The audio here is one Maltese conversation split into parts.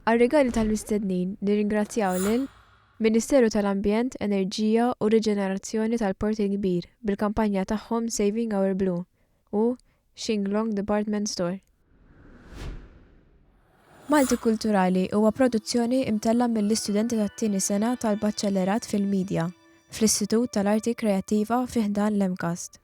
Għar-rigali tal-mistednin nirringrazzjaw lil Ministeru tal-Ambjent, Enerġija u Riġenerazzjoni tal-Port il-Kbir bil-kampanja tagħhom Saving Our Blue u Shinglong Department Store. Maltikulturali huwa produzzjoni imtellgħa mill-istudenti tat-tieni sena tal-Baċċellerat fil-Midja fl-Istitut tal-Arti Kreattiva fi ħdan l-MCAST.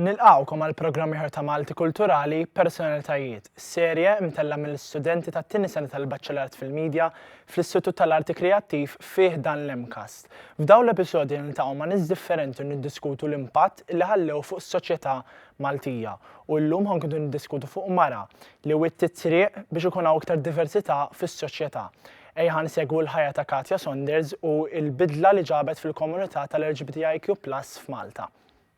Nilqgħukom għal programm ieħor ta' Malti Kulturali, Personalitajiet, serje mtellgħa mill-istudenti tat-tieni sena tal-Baċellerat fil-Media fl-Istitut tal-Arti Kreattiv fi ħdan l-MCAST. F'dawn l-episodji niltaqgħu ma' nies differenti u niddiskutu l-impatt li ħallew fuq is-soċjetà Maltija. U llum ħankunu niddiskutu fuq mara li wittiet it-triq biex ikun hawn iktar diversità fis-soċjetà. Ejja ħa nsegwu l-ħajja ta' Katja Saunders u l-bidla li ġabet fil-komunità tal-LGBTIQ+ f'Malta.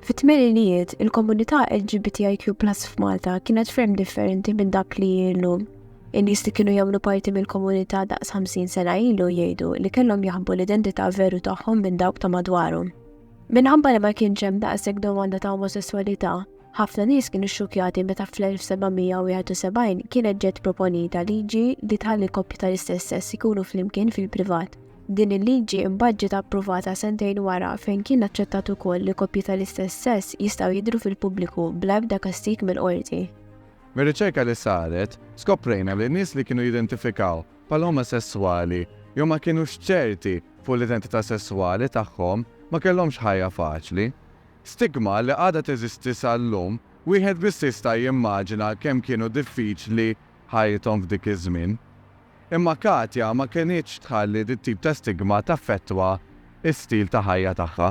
Fit-tmeninijiet, il-komunità LGBTIQ+ f'Malta kienet ferm differenti minn dak li hi llum. In-nies li kienu jagħmlu parti mill-komunità daqs 50 sena ilu jgħidu li kellhom jaħbu l-identità veru tagħhom minn dawk ta' madwarhom. Minħabba li ma kienx hemm daqshekk domanda ta' omosesswalità, ħafna nies kienu xxukkjati meta fl-1771 kienet ġiet proponita liġi li tħalli koppji tal-istess sess ikunu flimkien fil-privat. Din il-liġi imbagħad ġiet approvata sentejn wara fejn kien aċċettat ukoll li koppji tal-istess sess jistgħu jidhru fil-pubbliku bla ebda kastig mill-qorti. Mir-riċerka li saret, skoprejna li nies li kienu jidentifikaw bħala omosesswali jew ma kinux ċerti fuq l-identità sesswali tagħhom ma kellhomx ħajja faċli. Stigma li għadha teżisti sal-lum, wieħed biss jista' jimmaġina kemm kienu diffiċli ħajjithom f'dik iż-żmien. Imma Katja ma kenitx tħalli dit tip ta' stigma taffettwa s-stil ta' ħajja tagħha.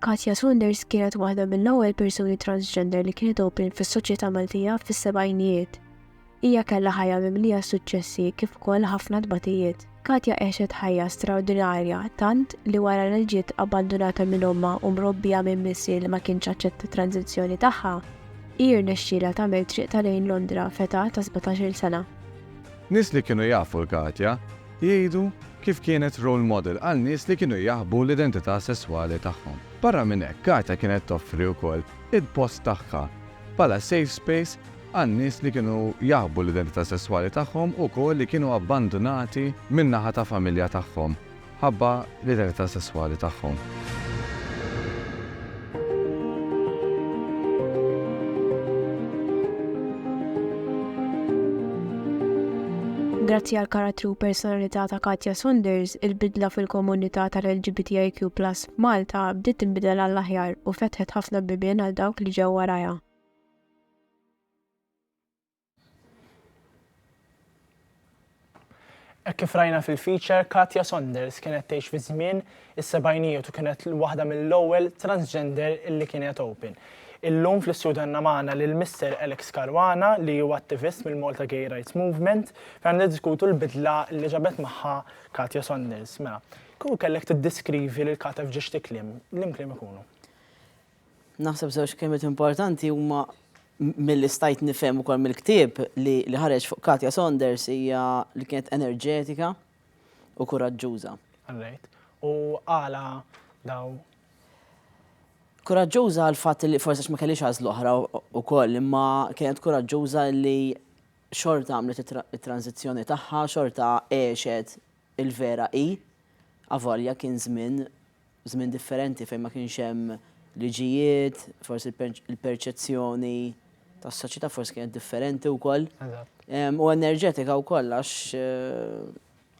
Katja Saunders kienet waħda mill-ewwel persuni transgender li kienet open fis-soċjetà Maltija fis-sebgħinijiet. Hija kellha ħajja mimlija suċċessi kif ukoll ħafna tbatijiet. Katja għexet ħajja straordinarja tant li wara li ġiet abbandunata minn ommha u mrobbija minn missier li ma kienx aċċetta t-tranżizzjoni tagħha, hi rnexxielha tagħmel triqtha lejn Londra f'età ta' sbatax-il sena. Nies li kienu jafu l-Katja jgħidu kif kienet role model għal nies li kienu jaħbu l-identità sesswali tagħhom. Barra minn hekk, Katja kienet toffri wkoll il-post tagħha bħala safe space għal nies li kienu jaħbu l-identità sesswali tagħhom u wkoll li kienu abbandunati min-naħa ta' familja tagħhom. ħabba l-identità sesswali tagħhom. Grazzi għal karattru u personalità ta' Katja Saunders, il-bidla fil-komunità tal-LGBTIQ+ Malta bdiet tinbidel għall-aħjar u fetħet ħafna bibien għal dawk li ġew warajha. Hekk kif rajna fil-feature, Katya Saunders kienet tgħix fi żmien is-sebgħinijiet u kienet waħda mill-ewwel transgender li kienet open. Illum fl-istudju għandna magħna lil Mister Alex Caruana li huwa attivist mill-Malta Gay Rights Movement fejn niddiskutu l-bidla li ġabet magħha Katya Saunders. Mela, kieku kellek tiddiskrivi lil Katya f'ġiex ti kliem, liema kliem ikunu? Naħseb żewġ kelmiet importanti huma milli stajt nifhem ukoll mill-ktieb li li ħareġ fuq Katja Saunders hija li kienet enerġetika u kuraġġuża. Right. U għala daw? Kuraġġuża għal fatt li forsi ma kellix għażl oħra wkoll, imma kienet kuraġġuża li xorta għamlet it-tranzizzjoni tagħha, xorta għexet Il-vera hi, avolja kien żmien, żmien differenti fejn ma kienx hemm liġijiet, forsi l-perċezzjoni tas-soċjetà forsi kienet differenti wkoll. U enerġetika wkoll għax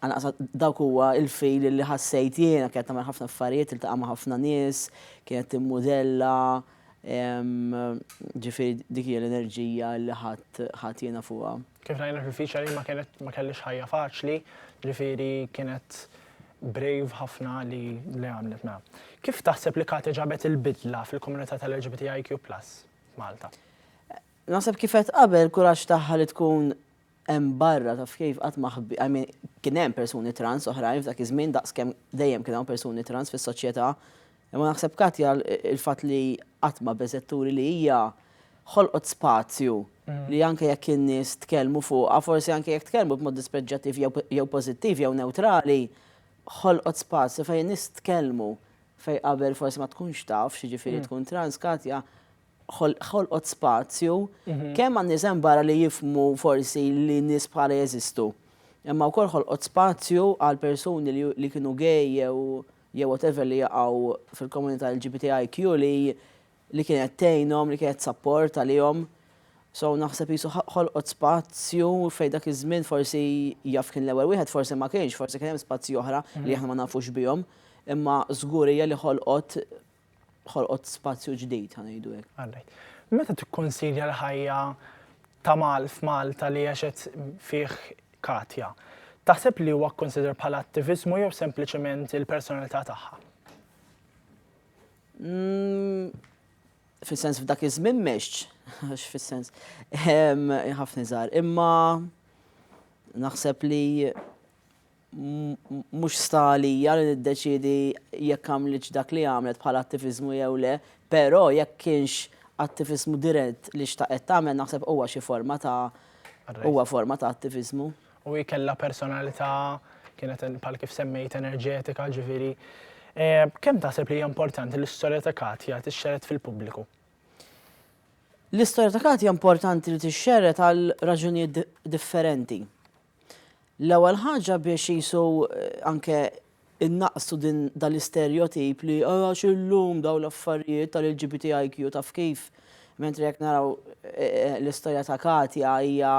għanaqsa dawk huwa il-fil li ħassejt jiena kienet tagħmel ħafna affarijiet, tiltaqa' ma' ħafna nies, kienet timmudella, Ġifieri dik hija l-enerġija li ħadt jiena fuqha. Kif rajna fil-featuring ma kienet ma kellhiex ħajja faċli, ġifieri kienet brave ħafna li li għamlet mela. Kif taħseb li Kate ġabet il-bidla fil-komunità tal-LGBTIQ+ f'Malta? Naħseb kif għedt qabel, kuraġġ tagħha li tkun Hemm barra, taf kif, qatt ma ħbi, I mean, kien hemm persuni trans oħrajn f'dak iż-żmien daqs kemm dejjem kien hawn persuni trans fis-soċjetà, imma naħseb Katja l-fatt li qatt ma beżgħet turi li hija ħolqot spazju li anke jekk in-nies tkellmu fuqha, forsi anke jekk tkellmu b'mod dispreġġjattiv jew pożittiv jew newtrali, ħolqot spazju fejn in-nies tkellmu fejn qabel forsi ma tkunx taf x'jiġifieri tkun trans, Katja, ħolqot spazju kemm għan-nies hemm barra li jifhmu forsi li nies bħalha jeżistu, imma wkoll ħolqot spazju għal persuni li kienu gay jew jew whatever li jaqgħu fil-komunità LGBTIQ li li kienet tgħinhom, li kienet sapport għalihom. So naħseb qisu ħolqot spazju fejn dak iż-żmien forsi jaf kien l-ewwel wieħed forsi ma kienx, forsi kien hemm spazji oħra li aħna ma nafux bihom, imma żgur hija li ħolqot ħolqot spazju ġdid ħa ngħidu hekk. Alright. Meta tikkonsidja l-ħajja ta' Mal f'Malta li għexet fih Katja, taħseb li huwa kkonsidrat bħala attiviżmu jew sempliċement il-personalità tagħha? Mm, fis-sens f'dak iż-żmien mexx, għax fis-sens ħafna żgħar, imma naħseb li mhux sta għalija li niddeċiedi jekk għamlitx dak li għamlet bħala attiviżmu jew le, però jekk kienx attiviżmu dirett li xtaqet tagħmel naħseb huwa xi forma ta' huwa forma ta' attiviżmu. U hi kellha personalità kienet bħal kif semmejt enerġetika, ġifieri eh, kemm taħseb li hija importanti l-istorja ta' Katja tixxeret fil-pubbliku? L-istorja ta' Katja importanti li tixxeret għal raġunijiet differenti. L-ewwel ħaġa biex qisu anke innaqsu din dal-isterjotip li għax illum daw l-affarijiet tal-LGBTIQ taf kif mentri jekk naraw eh, eh, l-istorja ta' Katja hija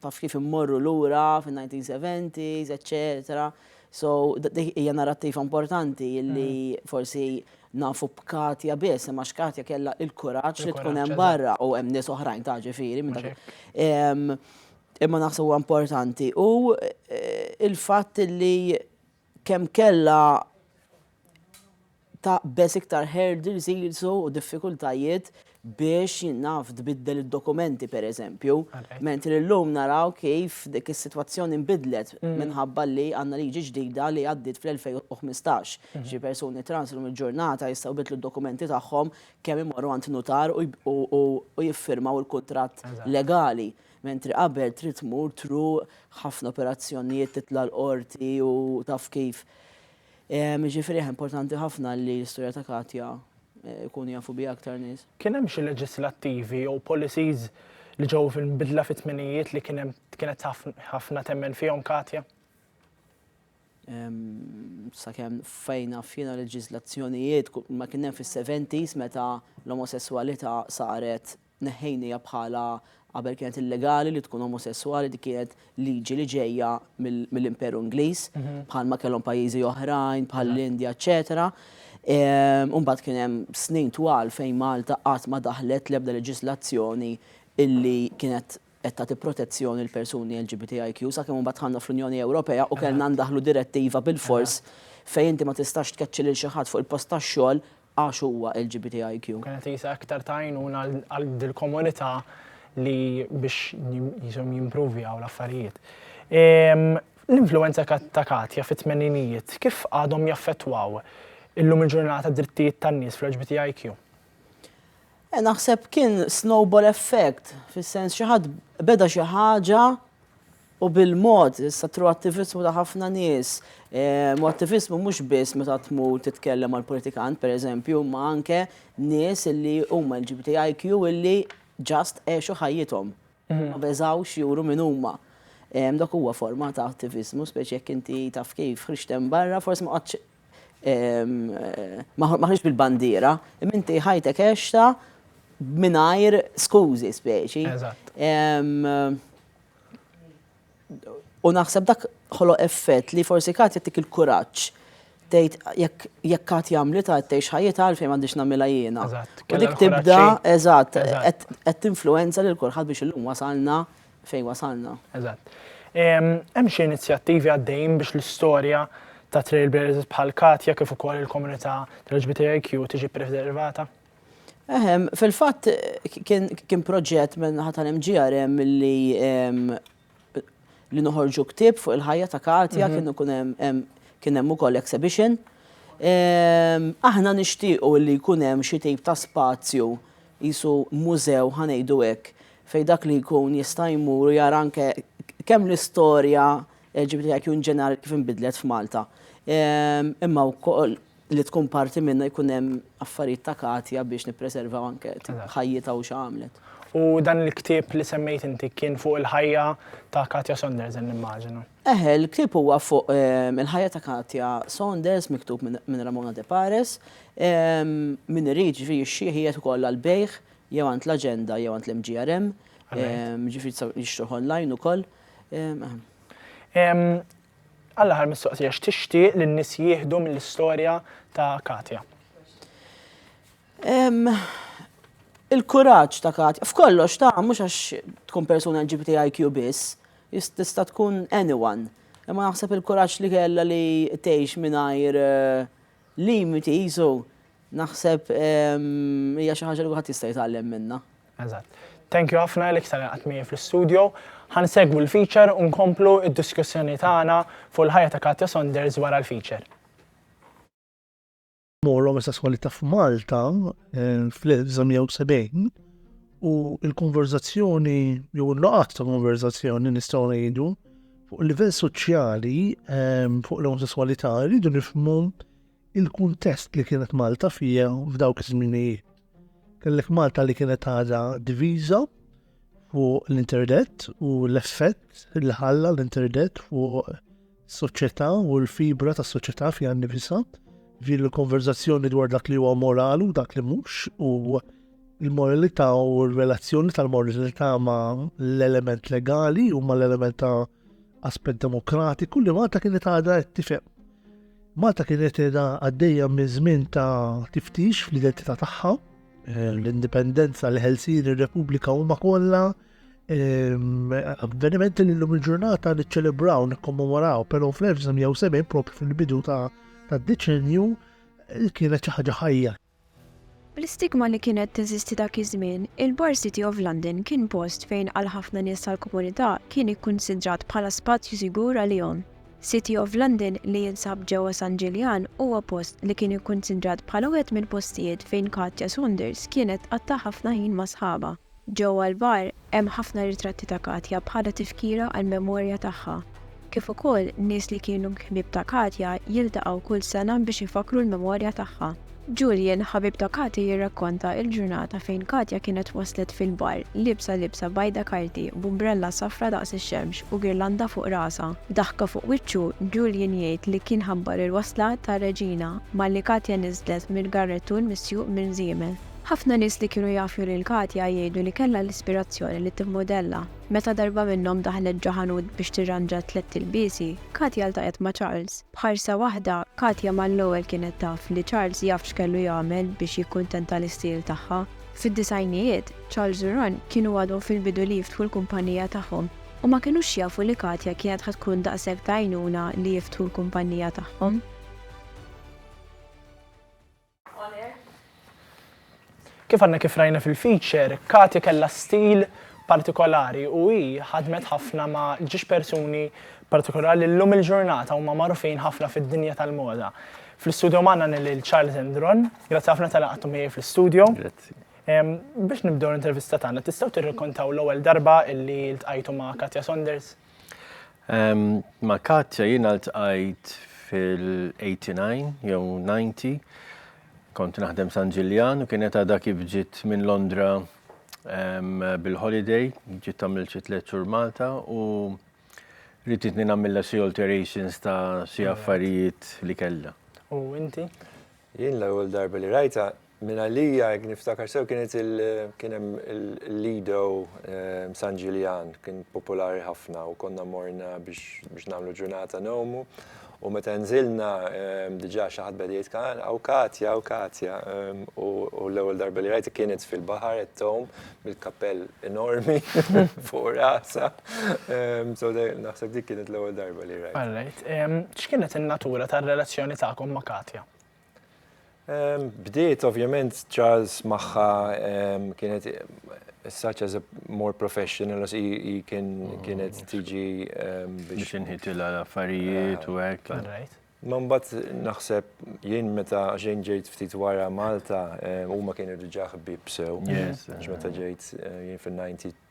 taf kif immorru lura fin-1970s, eċċetera. So, hija narrattiva importanti li mm. forsi nafu b'Katja biss, imma x'Katja kellha il-kuraġġ li tkun hemm barra u hemm nies oħrajn ta' ġifieri minn dak. Imma naħseb huwa importanti u il-fatt li kemm kellha taqbeż iktar hurdles jilsu u diffikultajiet biex naf tbiddel id-dokumenti per eżempju. Mentri l-lum naraw kif dik is-sitwazzjoni nbidlet mm. minħabba li għandna liġi ġdida li għaddit fl-2015. Mhm. Xi persuni trans l il-ġurnata jistgħu bidlu d-dokumenti tagħhom kemm imorru għand nutar u jiffirmaw il-kuntratt legali. Mentri qabel trid tmur truq, ħafna operazzjonijiet, titla' l-qorti u taf kif. Ehm, jiġifieri aħ importanti ħafna li l-istorja ta' Katja eh, jkunu jafu biha aktar nies. Kien hemm xi leġislattivi jew policies li ġew fil-bidla fit-tminijiet li kien hemm kienet ħaf- ħafna temmen fihom Katja? Ehm, Sakemm fejn naf jiena leġiżlazzjonijiet ku- ma kien hemm fis-70s meta l-omosesswalità saret Neħħejniha bħala qabel kienet illegali li tkun omosesswali, dik kienet liġi li ġejja mill-Imperu Ingliż, bħalma kellhom pajjiżi oħrajn bħall-Indja eċċetera. U mbagħad kien hemm snin twal fejn Malta qatt ma daħħlet l-ebda leġiżlazzjoni illi kienet qed tagħti protezzjoni lill-persuni LGBTIQ sakemm imbagħad dħalna fl-Unjoni Ewropea u kellna ndaħħlu direttiva bilfors fejn inti ma tistax tkeċċi lil xi ħadd fuq il-post tax-xogħol għax huwa LGBTIQ. Kienet qisha aktar ta' għajnuna għal dil-komunità li biex qishom jimprovjaw l-affarijiet. L-influwenza ta' Katja fit-tmeninijiet kif għadhom jaffettwaw illum il-ġurnata d-drittijiet tan-nies fl-LGBTIQ? Naħseb kien snowball effect, fis-sens xi ħadd beda xi ħaġa U bil-mod, sa tru attivizmu ta' ħafna nies, u attivizmu mhux biss meta tmur titkellem mal politikant per eżempju, imma anke nies illi huma LGBTIQ illi just għexu ħajjithom. Ma beżgħux juru min huma. Dak huwa forma ta' attivizmu, speċi jekk inti taf kif, ħriġt hemm barra, forsi ma qgħadtx Maħruġ bil-bandiera, imma inti ħajtek għexta mingħajr skużi speċi. U naħseb dak ħolo effett li forsi kat jittik il-kuraġġ tgħid jekk jekk kat jagħmli ta' tgħix ħajjita għalfejn m'għandix nagħmilha jiena. U dik tibda, eżatt, qed tinfluwenza lil kulħadd biex illum wasalna fejn wasalna. Eżatt. Hemm xi inizjattivi għaddejjin biex l-istorja ta' trailblazers bħal Katja kif ukoll il-komunità tal-LGBTIQ tiġi preservata? Eħem, fil-fatt kien proġett minn ħadd tal-MGRM li li noħorġu ktib fuq il-ħajja ta' Katja mhm. kien ikun hemm kien hemm ukoll exhibition. Aħna nixtiequ li jkun hemm xi tip ta' spazju qisu mużew, ħa ngħidu hekk, fejn dak li jkun jista' jmur u jara anke kemm l-istorja LGBTIQ in ġenerali kif inbidlet f'Malta. Imma wkoll li tkun parti minnha jkun hemm affarijiet ta' Katja biex nippreservaw anke ħajjitha u x'għamlet. U dan il-ktieb li semmejt inti kien fuq il-ħajja ta' Katja Sondersen nimmaġina. Eħe, il-ktieb huwa fuq il-ħajja ta' Katja Saunders miktub minn Ramona De Pares. Min irid, jiġifieri jixtrih qiegħed ukoll għall-bejgħ jew għand l-Aġenda jew għand l-MGRM, jiġifieri jistgħu jixtruh online ukoll. Għall-aħħar mistoqsija, x'tixtieq li n-nies jieħdu mill-istorja ta' Katja? Il-kuraġġ ta' Katja. F'kollox ta', mhux għax tkun persuna LGBTIQ biss, Hija tista' tkun anyone, imma naħseb il-kuraġġ li kellha li tgħix mingħajr limiti qisu, naħseb hija xi ħaġa li kulħadd jista' jitgħallem minnha. Eżatt. Thank you ħafna Alex tal-li qgħadt miegħi fl-istudio. Ħa nsegwu l-feature u nkomplu d-diskussjoni tagħna fuq il-ħajja ta' Katja Saunders wara l-feature. mor omosessualità f'Malta eh, fl-1970 u l-konverzazzjoni jew il-laqat ta' konverzazzjoni nistgħu ngħidu fuq livell soċjali eh, fuq l-omosessualità rridu nifhmu il-kuntest li kienet Malta fija f'dawk iż-żminijiet. Kellek Malta li kienet għadha diviża, fuq l-internet u l-effett li ħalla l-internet fuq soċjetà u l-fibra tas soċjetà fiha nnifisha fil-konverzazzjoni dwar dak li huwa moral u dak li mhux u l-moralità u r-relazzjoni tal-moralità ma' l-element legali u ma' l-element ta' aspett demokratiku li Malta kienet għadha qed tifhem. Malta kienet għadha għaddejja minn żmien ta' tiftix fl-identità tagħha Eh, l-indipendenza, l-ħelsin, ir-Repubblika huma kollha ehm, avvenimenti li l-lum il-ġurnata niċċelebraw, nikkommemoraw, però fl-1970 propju fil-bidu ta' tad-deċenju eh, kienet xi ħaġa ħajja. Bl-istigma li kienet teżisti dak iż-żmien, il-Bar City of London kien post fejn għal ħafna nies tal-komunità kien ikkunsidrat bħala spazju sigur għalihom. City of London li jinsab ġewwa San Ġiljan huwa post li kien ikkunsidrat bħala wieħed mill-postijiet fejn Katja Saunders kienet tqatta' ħafna ħin ma' sħabha. Ġewwa l-bar hemm ħafna ritratti ta' Katja bħala tifkira għall-memorja tagħha, kif ukoll nies li kienu ħbieb ta' Katja jiltaqgħu kull sena biex ifakkru l-memorja tagħha. Julian, ħabib ta' Kathy jirrakkonta il-ġurnata fejn Katja kienet waslet fil-bar, liebsa libsa bajda karti, b'umbrella safra daqs ix-xemx u girlanda fuq rasha. B'daħka fuq wiċċu, Julian jgħid li kien ħabbar il-wasla ta' Regina malli Katja niżlet mill-garrettun misjuq minn żiemel. Ħafna nies li kienu jafu lil Katja jgħidu li kellha l-ispirazzjoni li timmodella. Meta darba minnhom daħlet ġo ħanut biex tirranġa tlett ilbiesi, Katja ltaqgħet ma' Charles. B'ħarsa waħda, Katja mal-ewwel kienet taf li Charles jaf x'kellu jagħmel biex jikkuntenta l-istiel tagħha. Fid-disgħinijiet, Charles u Ron kienu għadhom fil-bidu li jiftħu l-kumpannija tagħhom u ma kinux jafu li Katja kienet ħa tkun daqshekk t'għajnuna li jiftħu l-kumpannija tagħhom. Kif għadna kif rajna fil-feature, Katy kellha stil partikolari u hi ħadmet ħafna ma' ġiex persuni partikolari li llum il-ġurnata huma magħrufin ħafna fid-dinja tal-moda. Fl-istudio magħna għandna lil Charles Endron. Grazzi ħafna talli qgħadtu miegħi fl-istudio. Grazzi. Biex nibdew l-intervista tagħna, tistgħu tirrakkontaw l-ewwel darba li ltqajtu ma' Katja Saunders? Ma' Katja jiena ltqajt fil-89 jew 90, kont naħdem San Ġiljan u kienet għadha kif ġiet minn Londra bil-holiday, ġiet tagħmel xi tliet xhur Malta u riditni nagħmilha xi alterations ta' xi affarijiet li kellha. U inti? Jien l-ewwel darba li rajtha Minn għalija, jekk niftakar sew, kienet il, kien hemm il-Lido San Ġiljan, kien popolari ħafna u konna morna biex biex nagħmlu ġurnata ngħumu. U meta nżilna diġà xi ħadd beda jitkellem, hawn Katja, hawn Katja, u l-ewwel darba li rajtha kienet fil-baħar qed tgħum bil-kappell enormi fuq rasha. So naħseb dik kienet l-ewwel darba li rajtha. All right. X'kienet in-natura tar-relazzjoni tagħkom ma' Katja? Bdiet ovvjament Charles magħha kienet such as a more professional as hi kienet tiġi biex inħitilha l-affarijiet u hekk. Ma mbagħad naħseb jien meta xejn ġejt ftit wara Malta huma kienu diġà ħbieb sew. Meta ġejt jien fin-92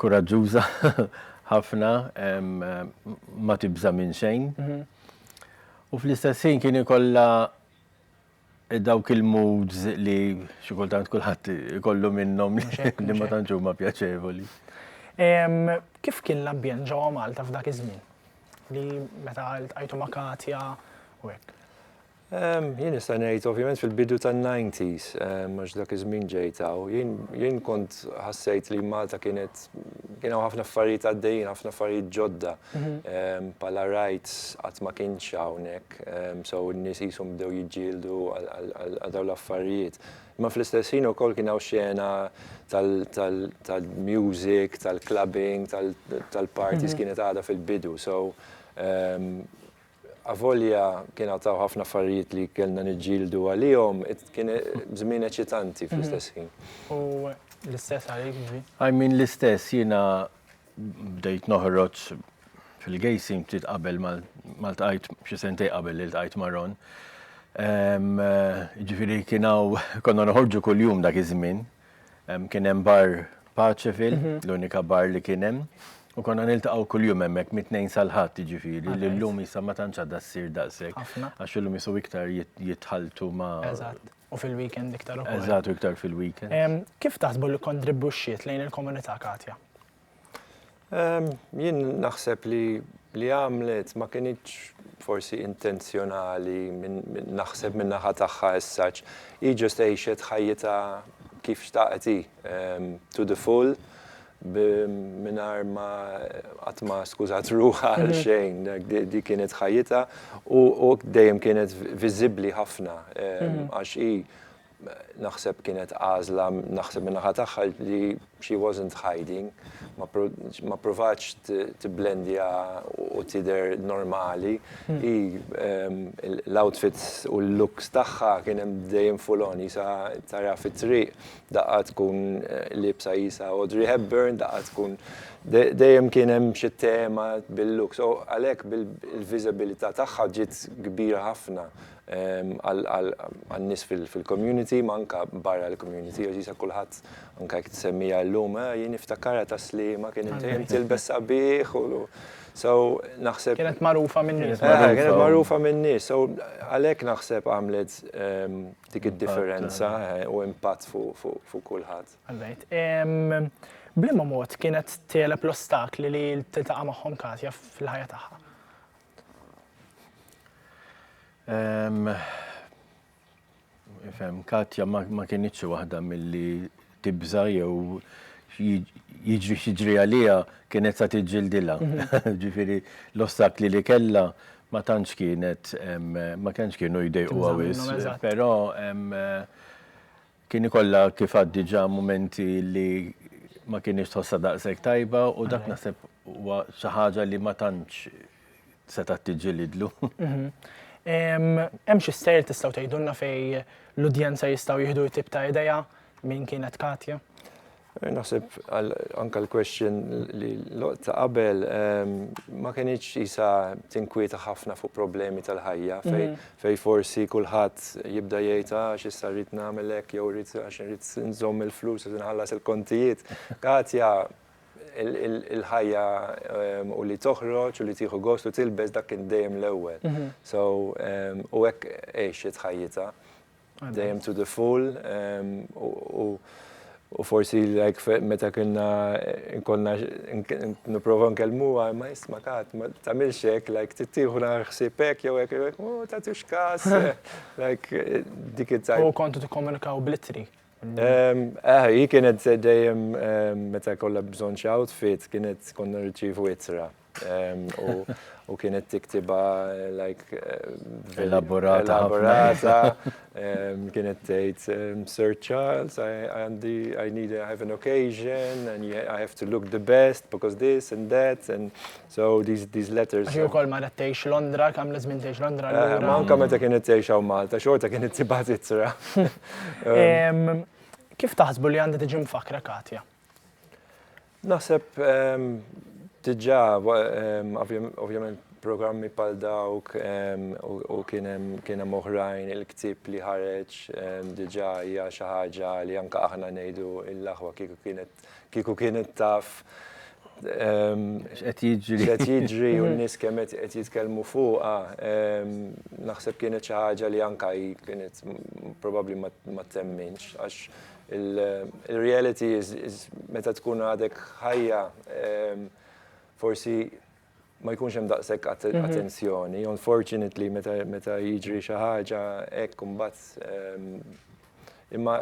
Kuraġġuża ħafna, ma tibża' minn xejn. U fl-istess ħin kien ikollha dawk il-moods li xi kultant kulħadd ikollu minnhom li ma tantx huma pjaċevoli. Kif kien l-ambjent ġewwa Malta f'dak iż-żmien? Li meta ltqajtu ma' Katja u hekk. Jien nista' ngħid ovvjament fil-bidu tan-90s, għax dak iż-żmien ġejt hawn, jien kont ħassejt li Malta kienet kien hawn ħafna affarijiet għaddejjin, ħafna affarijiet ġodda. Bħala rajt qatt ma kienx hawnhekk, so n-nies qishom bdew jiġġieldu għal dawn l-affarijiet. Imma fl-istess ħin ukoll kien hawn xena tal-music, tal-clubbing, tal-parties kienet għadha fil-bidu. So Avolja kien għad hawn ħafna affarijiet li kellna niġġieldu għalihom, kien żmien eċitanti fl-istess ħin. U l-istess għalik, Ġbi? I mean l-istess, jiena bdejt noħroġ fil-gejsim ftit qabel ma ltqajt, xi sentejn qabel li ltqajt ma' Ron. Jiġifieri kien hawn konna noħorġu kuljum dak iż-żmien, Kien hemm bar Paċefil, l-unika bar li kien hemm, u konna niltaqgħu kuljum hemmhekk mit-Tnejn sal-Ħadd jiġifieri, li llum issa ma tantx għadha ssir daqshekk. Għax illum isu iktar jitħalltu ma' Eżatt, u fil-weekend iktar ukoll. Eżatt, u iktar fil-weekend. Kif taħsbu li kkontribwixxiet lejn il-komunità Katja? Jien naħseb li li għamlet ma kinitx forsi intenzjonali naħseb minn naħa tagħha as such. Hi ġust għixet ħajjitha kif xtaqet hi, to the full mingħajr ma qatt ma skużat ruħha għal xejn. Dik kienet ħajjitha u dejjem kienet viżibbli ħafna għax hi Naħseb kienet għażla naħseb min-naħa tagħha li she wasn't hiding, ma ppruvatx tibblendja u tidher normali. Hi l-outfits u l-looks tagħha kien hemm dejjem full on, qisha tara fit-triq daqqa tkun liebsa qisha Audrey Hepburn, daqqa tkun dejjem kien hemm xi tema bil-looks. U għalhekk il-viżibilità tagħha ġiet kbira ħafna għan-nies fil-community, imma anke barra l-community, għażiża kulħadd, anke jekk tsemmiha llum, eh, jien niftakarha tas-Sliema, kien dejjem tilbes sabiħ u so naħseb. Kienet magħrufa min-nies. Kienet magħrufa min-nies, so għalhekk naħseb għamlet dik id-differenza u impatt fuq kulħadd. B'liema mod kienet tegħleb l-ostakli li tiltaqa' magħhom Katja fil-ħajja tagħha? Fem, Katja ma kienieċ waħda milli tibża jew jiġri xiġri għalija kienet sa tiġġildila. Mhm. Ġifiri, l-ostakli li kella ma tantx kienet ma kienx kienu jdejqu għawis. Pero Kien ikollha kif għad diġà mumenti li ma kinitx tħossha daqshekk tajba u dak naħseb huwa xi ħaġa li ma tantx setgħet tiġġilidlu. Hemm xi stejjer tistgħu tgħidulna fejn l-udjenza jistgħu jieħdu tip ta' idea min kienet Katja? Naħseb anke l-question li ta' qabel ma kenitx qisha tinkwieta ħafna fuq problemi tal-ħajja fejn forsi kulħadd jibda jgħid għax issa rrid nagħmel hekk jew rrid għax irrid inżomm il-flus biex inħallas il-kontijiet. Katja il-ħajja u li toħroġ u li tieħu gost u tilbes dak kien dejjem l-ewwel. So u hekk għexet ħajjitha. dejjem to the full u u forsi like meta kienna nkonna nipprova nkellmuha ma jisma' kat ma tagħmilx hekk like tittieħu nara ħsieb hekk jew hekk like oh tagħtux każ like dik it-tajb. U kontu tikkomunikaw bl-ittri? Eh, hi kienet dejjem meta kollha bżonn xi outfit kienet konna nirċievu ittra. u kienet tiktiba like elaborata elaborata kienet tgħid Sir Charles għandi I need I have an occasion and I have to look the best because this and that and so these these letters Ġi wkoll ma tgħix Londra kemm li żmien tgħix Londra eh, Ma anke meta kienet tgħix hawn Malta xorta kienet tibgħat ittra. Kif taħsbu li għandha tiġi mfakra Katja? Naħseb diġà ovvjament programmi bħal dawk u kien hemm oħrajn il-ktieb li ħareġ diġà hija xi ħaġa li anke aħna ngħidu l-aħwa kieku kienet taf x'qed jiġri x'qed jiġri u n-nies kemm qed jitkellmu fuqha. Naħseb kienet xi ħaġa li anke hi kienet probabbli ma temminx għax Il-reality is meta tkun għadek ħajja forsi ma jkunx hemm daqshekk attenzjoni. Unfortunately meta jiġri xi ħaġa hekk imbagħad imma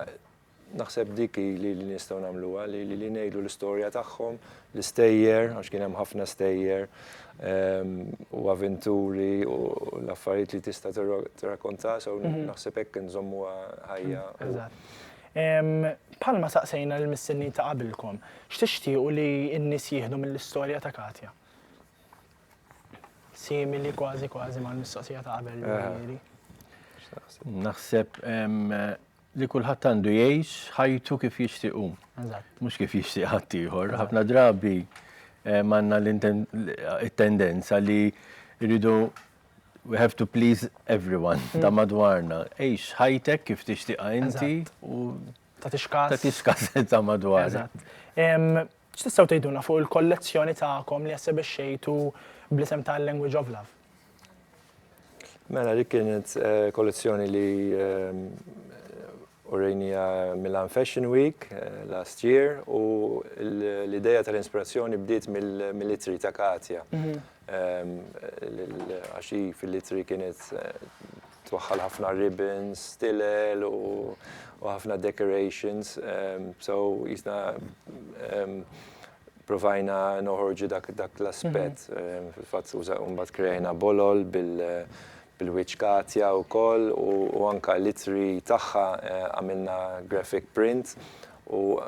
naħseb dik hi li nistgħu nagħmluha li ngħidu l-istorja tagħhom, l-istejjer għax kien hemm ħafna stejjer u avventuri u l-affarijiet li tista' tirrakkonta so naħseb hekk inżommuha ħajja. Bħalma saqsejna l-mistenni ta' qabilkom, x'tixtiequ li n-nies jieħdu mill-istorja ta' Katja? Simili kważi kważi mal-mistoqsija ta' qabel eh. Naħseb li kulħadd għandu jgħix ħajtu kif jixtiequ. Mhux kif jixtieq ħadd ieħor. Ħafna drabi eh, manna l-tendenza li rridu We have to please everyone ta' madwarna. Għix ħajtek kif tixtieqha inti u tagħtix kas. Tagħtix kas ta' madwarna. Eżatt. X'tistgħu tgħidulna fuq il-kollezzjoni tagħkom li essebixxejtu bl-isem ta' Language of Love? Mela dik kienet kollezzjoni li Urejniha Milan Fashion Week last year u l-idea tal-inspirazzjoni bdiet mill-ittri ta' Katja. Għax hi fil-ittri kienet twaħħal ħafna ribbons, stilel u ħafna decorations. So qisna provajna noħorġu dak l-aspett. Fil-fatt mbagħad kreajna bolol il-wiċċ Katja wkoll u anke l-ittri tagħha għamilna graphic print u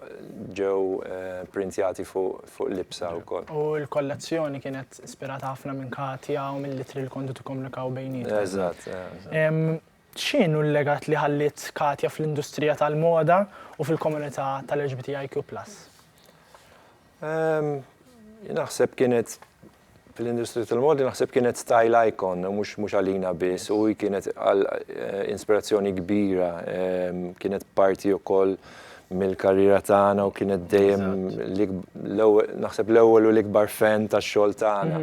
ġew printjati fuq libsa wkoll. U l-kollezzjoni kienet ispirata ħafna minn Katja u mill-ittri li kontu tikkomunikaw bejnietkom. Eżatt, eżatt. X'inhu l-legat li ħalliet Katja fl-industrija tal-moda u fil-komunità tal-LGBTIQ+? Naħseb kienet fl-industrija tal-modi naħseb kienet style icon u mhux mhux għalina biss u hi kienet għal inspirazzjoni kbira, kienet parti wkoll mill-karriera tagħna u kienet dejjem naħseb l-ewwel u l-ikbar fan tax-xogħol tagħna.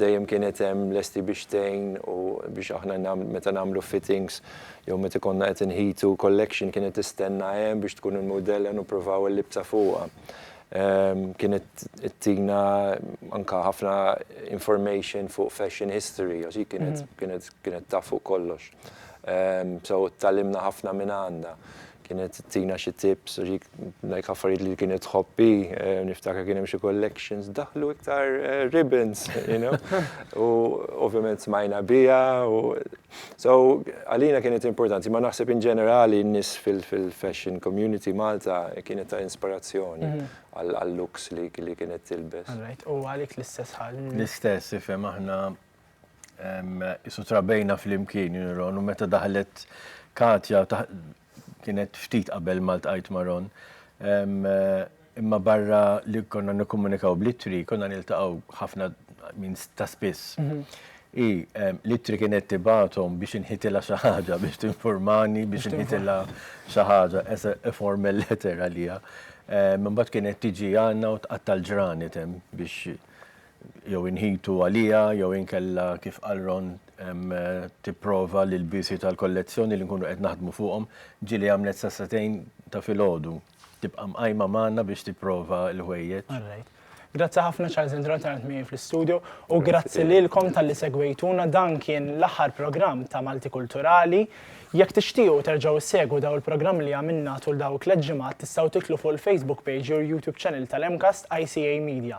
Dejjem kienet hemm lesti biex tgħin u biex aħna meta nagħmlu fittings jew meta konna qed inħitu collection kienet tistenna hemm biex tkun il-mudell ħa nippruvaw il-libsa fuqha. Kienet tina anka ħafna information fuq fashion history, għax kienet kienet kienet taf fuq kollox. So talimna ħafna minn għandha. Kienet tina xi tips, like affarijiet li kienet tħobbi, niftakar kien hemm xi collections, daħlu iktar ribbons, you know. U ovvjament smajna biha u So, għalina kienet importanti, ma naħseb in ġenerali n-nis fil-fashion community Malta kienet ta' inspirazzjoni għal-looks li kienet tilbes. Alright, u għalik l-istess ħal? L-istess, ifem aħna isu trabejna fl-imkien, juniron, u meta daħlet Katja, kienet ftit qabel ma ltqajt ma' Ron. Imma barra li konna nikkomunikaw bl-ittri, konna niltaqgħu ħafna minn ta' spiss. Hi l-ittri kienet tibgħathom biex inħitilha xi ħaġa, biex tinfurmani, biex inħitilha xi ħaġa, as a formal letter għaliha. Imbagħad kienet tiġi għandna u tqatta' l-ġranet hemm biex jew inħitu għaliha jew inkella kif qal Ron tipprova li l-biesi tal-kollezzjoni li nkunu qed naħdmu fuqhom, ġieli għamlet sa sagħtejn ta' filgħodu, tibqa' mqajma magħna biex tipprova l-ħwejjeġ. All right. Grazzi ħafna Charles Indra tal-li qegħdt miegħi fl-istudju u grazzi lilkom talli segwejtuna dan kien l-aħħar programm ta' Maltikulturali. Jekk tixtiequ terġgħu issegwu dawn il-programmi li għamilna tul dawk tliet ġimgħat tistgħu tidħlu fuq il-Facebook page jew il-YouTube channel tal-MCAST ICA Media.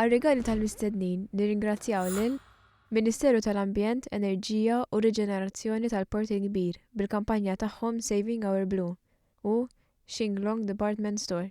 Għar-rigali tal-mistednin nirringrazzjaw lil, Ministeru tal-Ambjent, Enerġija u Riġenerazzjoni tal-Port il-Kbir bil-kampanja tagħhom Saving Our Blue u Shinglong Department Store.